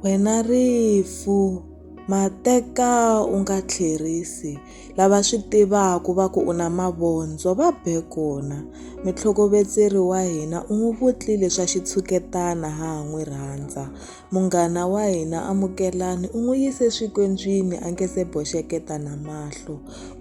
Wena rifu mateka u nga tlherisi lava swi tivaka va ku u na mavondzo va be kona mutlhokovetseri wa hina u n'wi vutlile swa xitshuketana ha ha n'wi rhandza munghana wa hina amukelani u n'wi yise swikondzwini a nge se boxeketa na mahlo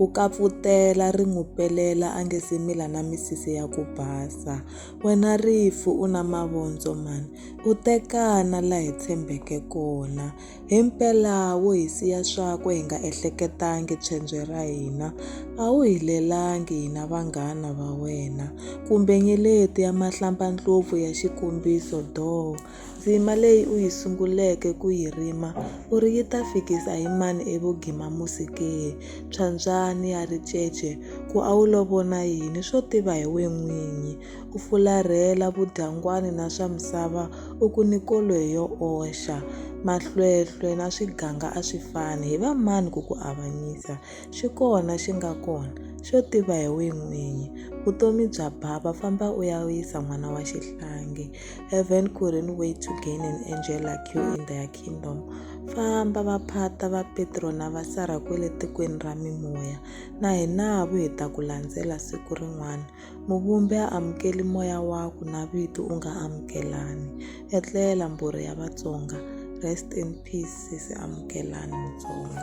u kapfutela ri n'wi pelela a nge se mila na misisi ya ku basa. Wena rifu u na mavondzo mani, u tekana la hi tshembeke kona. Himpela wo hi siya swakwe hi nga ehleketangi pshendzwe ra hina, a wu hi lelangi hina vanghana va wena, kumbe nyeleti ya mahlampa-ndlopfu ya xikombiso doo. Ndzima leyi u yi sunguleke ku yi rima u ri yi ta fikisa hi mani evugimamusi ke? Phyambyani ya ricece ku a wu lo vona yini swo tiva hi we n'winyi? U fularhela vudyangwani na swa misava u ku ni kolo hi yo oxa. Mahlwehlwe na swiganga a swi fani, hi va mani ku ku avanyisa? Xi kona xi nga kona, xo tiva hi we n'winyi. Vutomi bya bava, famba u ya wisa n'wana wa xihlangi. Heaven couldn't wait to gain an angel like you in their kingdom. Famba va phata va Petro na va Sara kwele tikweni ra mimoya. Na hina vu hi ta ku landzela siku rin'wana. Muvumbi a amukeli moya waku na vito u nga amukelani. Etlela mbhurhi ya Vatsonga. Rest in peace sesi Amukelani Mutsonga.